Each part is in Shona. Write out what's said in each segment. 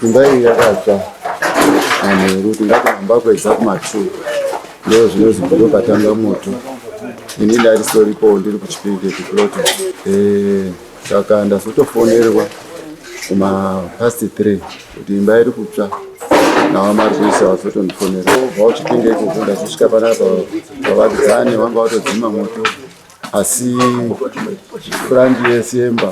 Imba iyi yakatsva manheru tingati mamba kwedza kumatwo ndo zvinozi ndo patanga moto ini ndarisoripo ndiri kuchipinge kuplota eh, saka ndazotofonerwa kuma past three kuti imba iri kutsva nawa mari kuisa vazotondifonera obva uchipinge ikoko ndazosvika panapa vavakidzani vanga vatodzima moto asi frandi yese yemba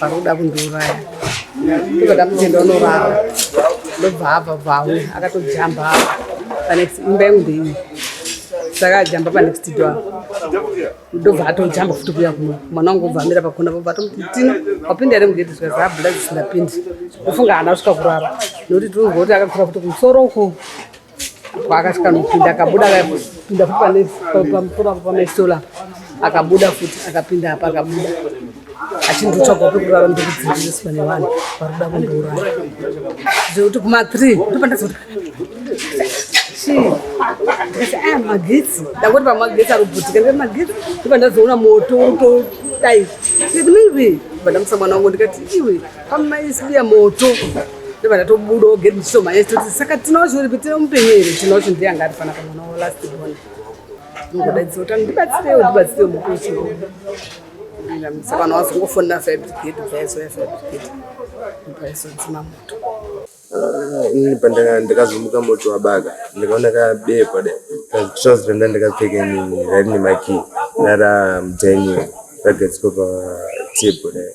Paroda kundiuraya. Ndiko ndamutenda unorara. Ndobva hava bvawo akatojamba apa. Panext imba yangu ndeiyi. Saka ajamba panext door. Ndobva atojamba futi kuya kuno. Mwana wangu obva amira pakona bva atomuti tino wapinda here mugedhi zvikati habuda dzisingapindi. Ndofunga haana kusvika kurara. Nokuti tiri kunzwa kuti akakura futi kumusoro uko. Paakasvika nopinda akabuda akapinda futi pamusoro apo pamaisola akabuda futi akapinda apa akabuda achindotsvaga pekurara ndokudzingiriswa nevanhu vari kuda kundouraya zvekuti kuma three ndopandazoti ah, magetsi ndangoti pamagetsi ari kubhutika ndikati magetsi ndopandazoona moto urikutodai ndikati maybe pandamusa mwana wangu ndikati iwe Amai sibiya moto ndobva ndatobuda ogeri ndichitoma yese toti saka tinaocho uripi tine mupenyu here tinaocho ndiye anga ari fanaka mwana wo last born ndongodaidzisa kuti ndibatsirewo ndibatsirewo mukuchi saka vanhu vazongofonera fabricate bvaizoya fabricate bvaizodzima moto Ah, ndakazomuka moto wabaga ndikaona kabekwa da trouse randa ndakapfeka inini raine maki rara mudhainiwa ragadzikwa patebho dai